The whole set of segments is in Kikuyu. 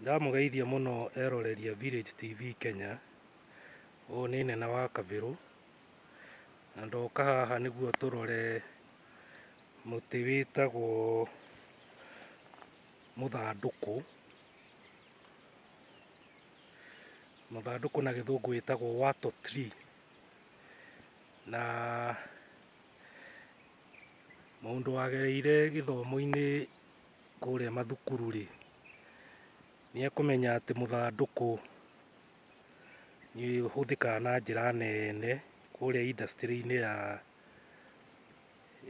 Ndamũgeithia mũno eroreri a Village TV Kenya, ũyũ nĩ Nene wa Kabirũ, na ndoka haha nĩguo tũrore mũtĩ wĩtagwo mũthandũkũ, mũthandũkũ na gĩthũngũ wĩtagwo wattle tree, na mũndũ wagereire gĩthomo-inĩ kũrĩa mathukuru-rĩ, nĩ ekũmenya atĩ mũthandũkũ nĩ ũhũthĩkaga na njĩra nene kũrĩa industry-inĩ ya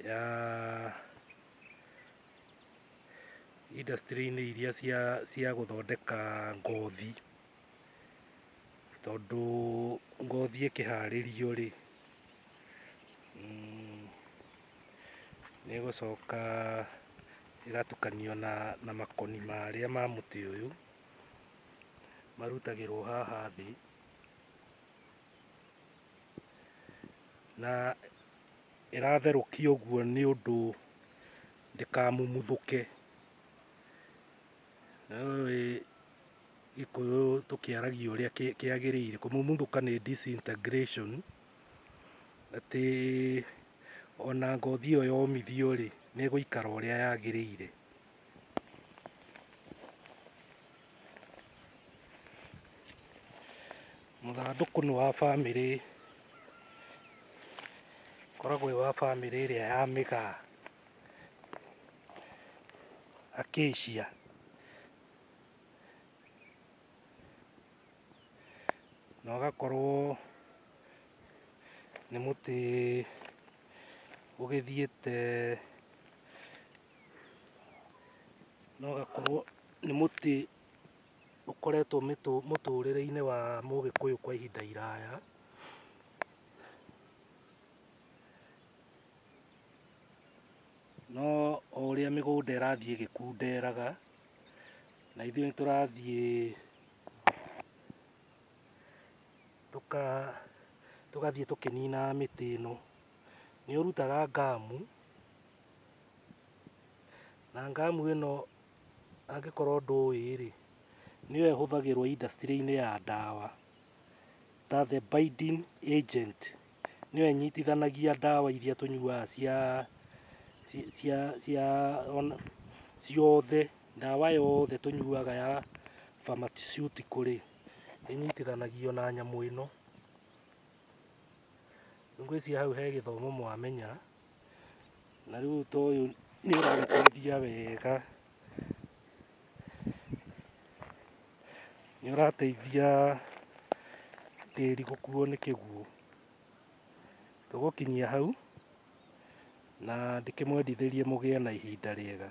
ya industry-inĩ iria cia gũthondeka ngothi. tondũ ngothi ĩkĩharĩrio-rĩ, nĩ ĩgũcoka ĩgatukanio na makoni marĩa ma mũtĩ ũyũ, marutagĩrwo haha thĩ, na ĩratherũkio ũguo nĩ ũndũ ndĩkamumuthũke. Nawe gĩkũyũ tũkĩaragia ũrĩa kĩ- kĩagĩrĩire kũmumuthũka nĩ disintegration atĩ ona ngothi ĩyo yomithio rĩ nĩ ĩgũikara ũrĩa yagĩrĩire mũthandũkũ nĩ wa bamĩrĩ koragwo wĩ wa bamĩrĩ ĩrĩa ya mĩgaa Acacia. Na ũgakorwo nĩ mũtĩ ũgĩthiĩte na ũgakorwo nĩ mũtĩ ũkoretwo mĩtũ- mũtũrĩre-inĩ wa Mũgĩkũyũ kwa ihinda iraya. No o ũrĩa mĩgũnda ĩrathiĩ ĩgĩkunderaga, na ithuĩ nĩ tũrathiĩ tũka tũgathiĩ tũkĩninaga mĩtĩ ĩno, nĩ ũrutaga ngamu, na ngamu ĩno angĩkorwo ndũĩ rĩ, nĩyo ĩhũthagĩrwo industry-inĩ ya ndawa ta the binding agent. nĩyo ĩnyitithanagia ndawa iria tũnyuaga cia ci- cia cia ona- ciothe ndawa yothe tũnyuaga ya pharmaceutical rĩ ĩnyitithanagio na nyamũ ĩno. Ngwĩciria hau he gĩthomo mwamenya na rĩu ta ũyũ nĩ ũragĩteithia wega. nĩ ũrateithia tĩri gũkuo nĩ kĩguũ. Tũgũkinyia hau na ndĩkĩmwendithĩrie mũgĩe na ihinda rĩega.